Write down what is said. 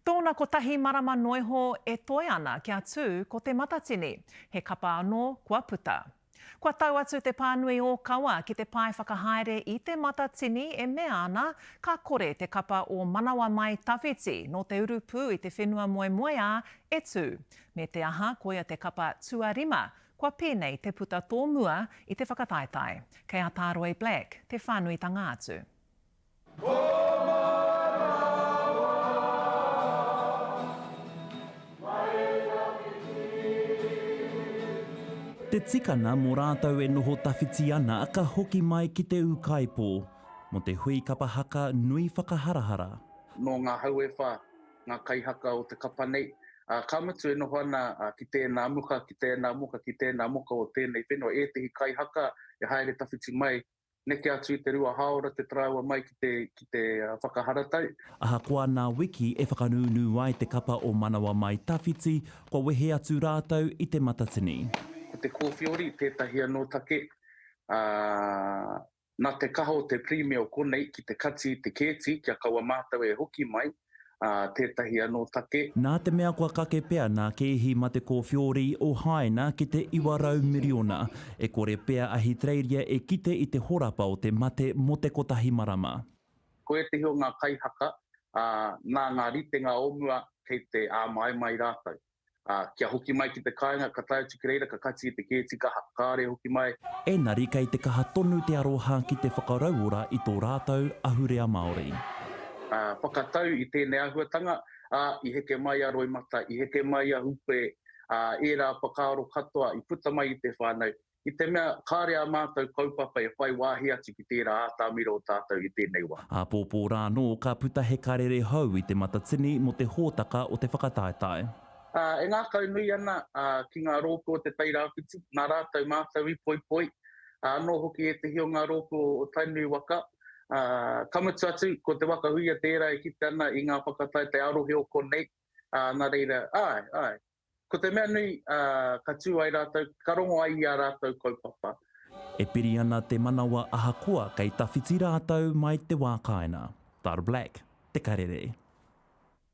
Tōna kotahi marama noiho e toe ana kia tū ko Te Matatini, he kapa anō kua puta. Kua tau atu te pānui ōkawa ki te pae whakahaere i Te Matatini e mea ana ka kore te kapa o Manawa Mai Tawhiti nō te urupū i te whenua moemoeā e tū. Me te aha koia te kapa tuarima kua pēnei te puta tōmua i te whakataetae. Kei a Tā Roy Black te whānuitanga atu. Te tikanga mo ratou e noho tawhiti ana ka hoki mai ki te Ukaipo, mo te hui kapa haka nui whakaharahara. Nō ngā hau e whā ngā kaihaka o te kapa nei, ā, ka mutu e noho ana ki tēnā muka, ki tēnā muka, ki tēnā muka o tēnei whenua ētehi kaihaka e haere tawhiti mai neke atu i te rua hāora te tarāua mai ki te, ki te whakaharatau. Ahakoa nā Wiki e whakanūnū ai te kapa o Manawa Mai Tawhiti, kua wehe atu rātou i Te Matatini. Ko te kōwhiori tētahi anō take, ā, nā te kaha o te Pirimia o konei ki te kati i te kēti kia kaua mātou e hoki mai, ā, tētahi anō take. Nā te mea kua kake pea nā kēhi mā te kōwhiori o Hāina ki te 900 miriona, e kore pea Ahitereiria e kite i te horapa o te mate mō te kotahi marama. Ko ētahi o ngā kaihaka, ā, nā ngā ritenga o mua kei te āmaimai rātou. ā, kia hoki mai ki te kāinga, ka tae atu ki reira, ka kati i te kēti kaha, kāore e hoki mai. Engari kei te kaha tonu te aroha ki te whakarauora i tō rātou ahurea Māori. Ā, whakatau i tēnei āhuatanga, ā, i heke mai a Roimata, i heke mai a Hūpē, ā, ērā whakaaro katoa i puta mai i te whānau, i te mea kāre ā mātou kaupapa e whai wāhi atu ki tērā ātamira o tātou i tēnei wā. Āpōpō rā anō ka puta he karere hou i te Matatini mō te hōtaka o te whakataetae. E ngākaunui ana ki ngā rōpū o Te Tai Rāwhiti, nā rātou mātou i poipoi, anō hoki ētehi o ngā rōpū o Tainui waka. Ka mutu atu, ko Te Waka Huia tērā e kite ana i ngā whakataetae arohe o konei, nā reira, āe, āe. Ko te mea nui, ka tū ai rātou, ka rongo ai i ā rātou kaupapa. E piri ana te manawa ahakoa kei tawhiti rātou mai te wā kāinga. Thar Black, Te Karere.